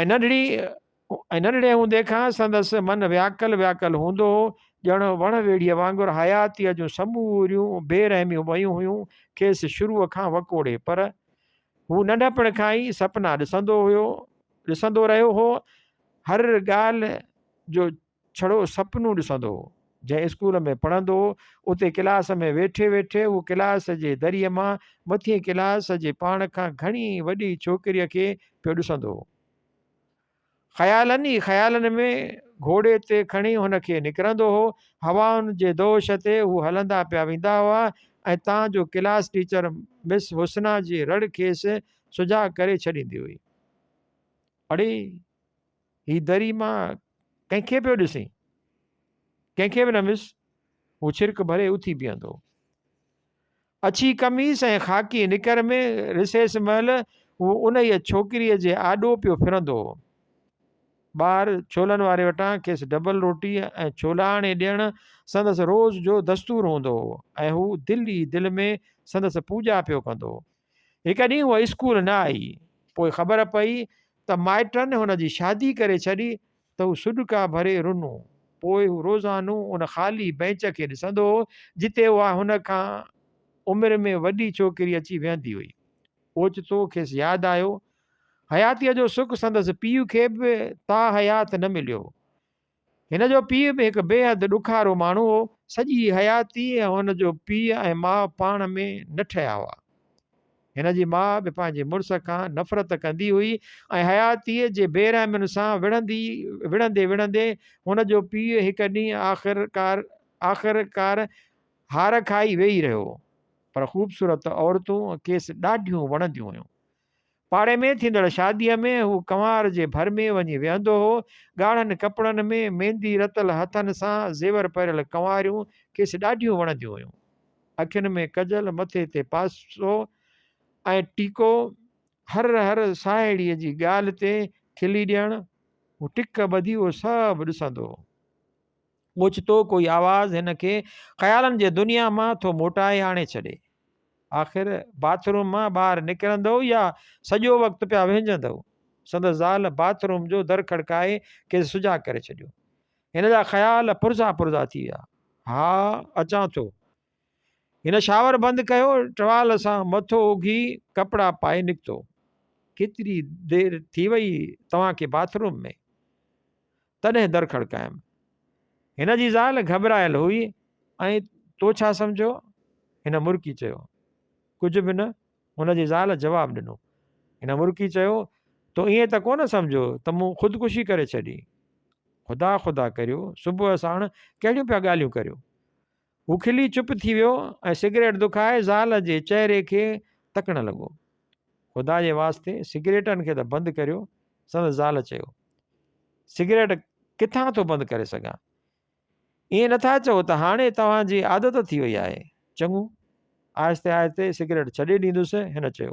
۽ ننڍڙي ۽ ننڍڙي هوندي کان سندس من وياڪل وياڪل هوندو هو ڄڻ وڻ ويڙهيء وانگر حياتيء جون سموريون بي رحميون ويون هيون کيس شروع کان وڪوڙي پر هو ننڍپڻ کان ئي سپنا ڏسندو هيو ڏسندو رهيو هو هر ڳالهه جو ڇڙو سپنون ڏسندو هو. جنهن اسڪول ۾ پڙهندو هو، اتي ڪلاس ۾ ويٺي ويٺي هو ڪلاس جي دريء مان مٿين ڪلاس جي پاڻ کان گهڻي وڏي ڇوڪريء کي پيو ڏسندو هو. خيالن ئي خيالن ۾ گهوڙي تي کڻي هن کي نڪرندو هو. هوائن جي دوش تي هو هلندا پيا ويندا هئا ۽ تان جو ڪلاس ٽيچر مس حسنا جي رڙ کيس سجاڳ ڪري ڇڏيندي هئي. اڙي! هي دري مان ڪنهن کي پيو ڏسين؟ ڪنهن کي به نه مس، هو ڇرڪ ڀري اٿي بيهندو هو. اڇي قميص ۽ خاڪي نڪر ۾ رسيس مهل هو انهيء ڇوڪريء جي آڏو پيو ڦرندو هو. ٻاهر ڇولن واري وٽان کيس ڊبل روٽيء ۽ ڇولا آڻي ڏيڻ سندس روز جو دستور هوندو هو ۽ هو دل ئي دل ۾ سندس پوڄا پيو ڪندو هو. هڪ ڏينهن هوء اسڪول نه آئي. پوء خبر پئي ته مائٽن هن جي شادي ڪري ڇڏي ته هو سڏڪا ڀري رنو. پوء هو روزانو ان خالي بئنچ کي ڏسندو هو، جتي اها هن کان عمر ۾ وڏي ڇوڪري اچي ويهندي هئي. اوچتو کيس ياد آيو، حياتيء جو سک سندس پيء کي به تاحيات نه مليو. هن جو پيء به هڪ بيحد ڏکارو ماڻهو هو. سڄي حياتيء هن جو پيء ۽ ماء پاڻ ۾ نه ٺهيا هئا. هن جي ماء به پنهنجي مڙس کان نفرت ڪندي هئي ۽ حياتيء جي بي رحمين سان وڙهندي وڙهندي وڙهندي هن جو پيء هڪ ڏينهن آخر ڪار آخر ڪار هار کائي ويهي رهيو. پر خوبصورت عورتون کيس ڏاڍيون وڻنديون هيون. پاڙي ۾ ٿيندڙ شاديء ۾ هو ڪنوار جي ڀر ۾ وڃي ويهندو هو. ڳاڙهن ڪپڙن ۾ ميندي رتل هٿن سان زيور پهريل ڪنواريون کيس ڏاڍيون وڻنديون هيون. اکين ۾ ڪجل، مٿي تي پاسو ۽ ٽيڪو، هر هر ساهيڙيء جي ڳالهه تي کلي ڏيڻ، هو ٽڪ ٻڌي اهو سڀ ڏسندو هو. اوچتو ڪوئي آواز هن کي خيالن جي دنيا مان ٿو موٽائي آڻي ڇڏي. آخر باٿ روم مان ٻاهر نڪرندؤ يا سڄو وقت پيا وهنجندؤ؟ سندس زال باٿ روم جو در کڙڪائي کيس سجاڳ ڪري ڇڏيو. هن جا خيال پرزا پرزا ٿي ويا. ها اچان ٿو. هن شاور بند ڪيو، ٽوال سان مٿو اگهي ڪپڙا پائي نڪتو. ڪيتري دير ٿي وئي توهان کي باٿ روم ۾؟ تڏهن در کڙڪايم. هن جي زال گهٻرايل هئي ۽ تو ڇا سمجهيو؟ هن مرڪي چيو. ڪجهه به نه، هن جي زال جواب ڏنو. هن مرڪي چيو، تو ائين ته ڪونه سمجهيو ته مون خودڪشي ڪري ڇڏي؟ خدا خدا ڪريو صبح ساڻ ڪهڙيون پيا ڳالهيون ڪريو؟ هو کلي چپ ٿي ويو ۽ سگريٽ دکائي زال جي چهري کي تڪڻ لڳو. خدا جي واسطي سگريٽن کي ته بند ڪريو، سندس زال چيو. سگريٽ ڪٿان ٿو بند ڪري سگهان. ائين نه ٿا چئو ته هاڻي توهان جي عادت ٿي وئي آهي. چڱو، آهستي آهستي سگريٽ ڇڏي ڏيندس، هن چيو.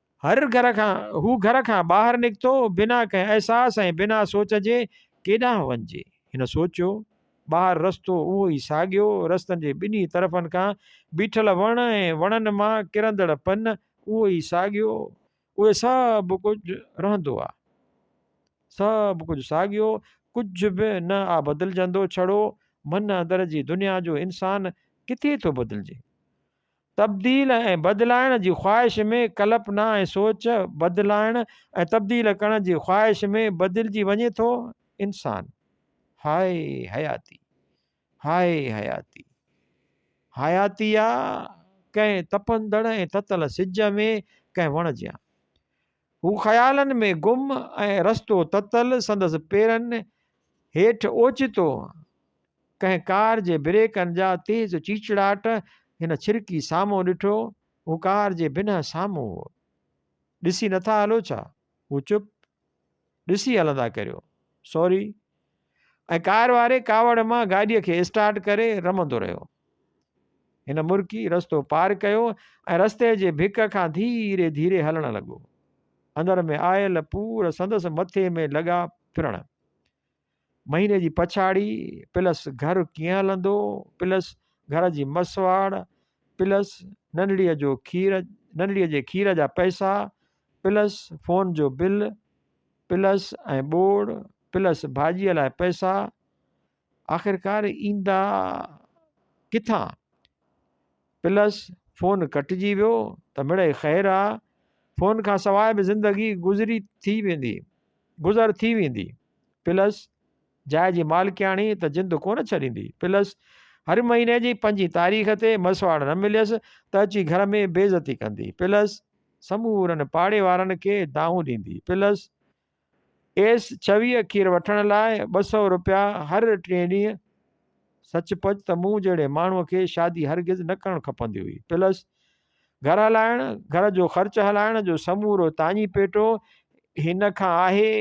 هر گهر کان هو گهر کان ٻاهر نڪتو بنا ڪنهن احساس ۽ بنا سوچ جي ڪيڏانهن وڃجي؟ هن سوچيو، ٻاهر رستو اهو ئي ساڳيو، رستن جي ٻنهي طرفن کان بيٺل وڻ ۽ وڻن مان ڪرندڙ پن اهو ئي ساڳيو، اهي سڀ ڪجهه رهندو آ، سڀ ڪجهه ساڳيو، ڪجهه به نه آ بدلجندو، ڇڙو من اندر جي دنيا جو انسان ڪٿي ٿو بدلجي؟ تبديل ۽ بدلائڻ جي خواهش ۾ ڪلپنا ۽ سوچ بدلائڻ ۽ تبديل ڪرڻ جي خواهش ۾ بدلجي وڃي ٿو انسان. هاء حياتي! هاء حياتي! حياتي آ ڪنهن تپندڙ ۽ تتل سج ۾ ڪنهن وڻ جيان. هو خيالن ۾ گم ۽ رستو تتل سندس پيرن هيٺ اوچتو ڪنهن ڪار جي بريڪن جا تيز چيچڙاٽ هن ڇرڪي سامهون ڏٺو، هو ڪار جي بنهه سامهون هو. ڏسي نٿا هلو ڇا؟ هو چپ. ڏسي هلندا ڪريو. سوري. ۽ ڪار واري ڪاوڙ مان گاڏيء کي اسٽارٽ ڪري رمندو رهيو. هن مرڪي رستو پار ڪيو ۽ رستي جي ڀڪ کان ڌيري ڌيري هلڻ لڳو. اندر ۾ آيل پور سندس مٿي ۾ لڳا ڦرڻ. مهيني جي پڇاڙي پلس گهر ڪيئن هلندو پلس گهر جي مسواڙ پلس ننڙيء جو کير ننڙيء جي کير جا پئسا پلس فون جو بل پلس ۽ ٻوڙ پلس ڀاڄيء لاء پئسا آخرڪار ايندا ڪٿان پلس فون ڪٽجي ويو ته مڙئي خير آ فون کان سواء به زندگي گذري ٿي ويندي گذر ٿي ويندي پلس جاء جي مالڪياڻي ته جند ڪونه ڇڏيندي پلس هر مهيني جي پنجين تاريخ تي مسواڙ نه مليس ته اچي گهر ۾ بيعزتي ڪندي پلس سمورن پاڙي وارن کي دانهون ڏيندي پلس ايس ڇويهه کير وٺڻ لاء ٻه سؤ روپيا هر ٽئين ڏينهن سچ پچ ته مون جهڙي ماڻهوء کي شادي هرگز نه ڪرڻ کپندي هئي. پلس گهر هلائڻ، گهر جو خرچ هلائڻ جو سمورو تاڃي پيٽو هن کان آهي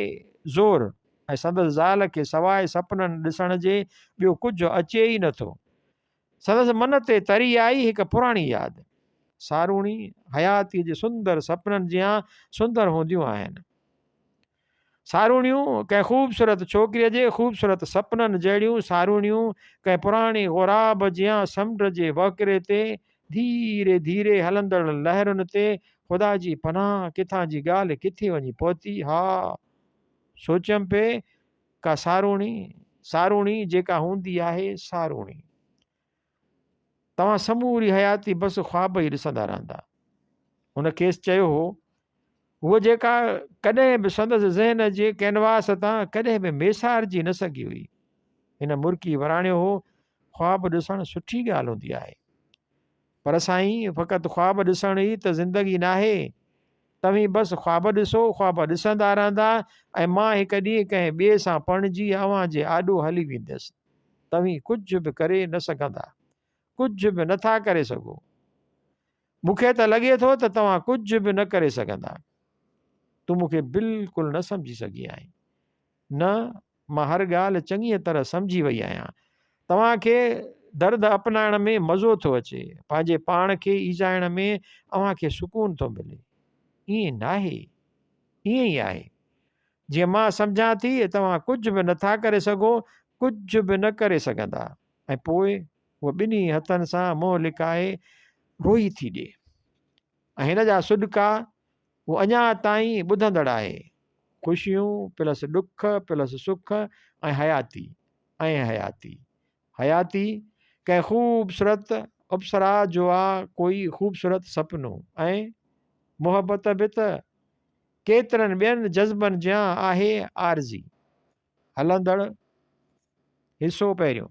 زور ۽ سندس زال کي سواء سپنن ڏسڻ جي ٻيو ڪجهه اچي ئي نه ٿو. سندس من تي تري آئي هڪ پراڻي ياد. ساروڻي، حياتيء جي سندر سپنن جيان سندر هونديون آهن. ساروڻيون ڪنهن خوبصورت ڇوڪريء جي خوبصورت سپنن جهڙيون ساروڻيون ڪنهن پراڻي غوراب جيان سمنڊ جي وهڪري تي ڌيري ڌيري هلندڙ لهرن تي خدا جي پناهه ڪٿان جي ڳالهه ڪٿي وڃي پهتي ها سوچيم پئي ڪا ساروڻي، ساروڻي جيڪا هوندي آهي ساروڻي. توهان سموري حياتي بس خواب ئي ڏسندا رهندا. هن کيس چيو هو، هوء جيڪا ڪڏهن به سندس ذهن جي ڪينواس تان ڪڏهن به ميسارجي نه سگهي هئي. هن مرڪي وراڻيو هو، خواب ڏسڻ سٺي ڳالهه هوندي آهي. پر سائين فقط خواب ڏسڻ ئي ته زندگي ناهي. توهين بس خواب ڏسو، خواب ڏسندا رهندا ۽ مان هڪ ڏينهن ڪنهن ٻئي سان پرڻجي اوهان جي آڏو هلي ويندس. توهين ڪجهه به ڪري نه سگهندا. ڪجهه به نه ٿا ڪري سگهو. مون کي ته لڳي ٿو ته توهان ڪجهه به نه ڪري سگهندا. تون مون کي بلڪل نه سمجهي سگهي آهين. نه مان هر ڳالهه چڱيء طرح سمجهي وئي آهيان. توهان کي درد اپنائڻ ۾ مزو ٿو اچي. پنهنجي پاڻ کي ايذائڻ ۾ اوهان کي سڪون ٿو ملي. ائين ناهي؟ ائين ئي آهي. جيئن مان سمجهان ٿي، توهان ڪجهه به نه ٿا ڪري سگهو، ڪجهه به نه ڪري سگهندا. ۽ پوء هوء ٻنهي هٿن سان منهن لڪائي روئي ٿي ڏي. ۽ هن جا سڏڪا هو اڃا تائين ٻڌندڙ آهي. خوشيون پلس ڏک پلس سک ۽ حياتي ۽ حياتي حياتي ڪنهن خوبصورت اپسرا جو آ ڪوئي خوبصورت سپنو ۽ محبت به ته ڪيترن ٻين جذبن جيان آهي عارضي هلندڙ حصو پهريون.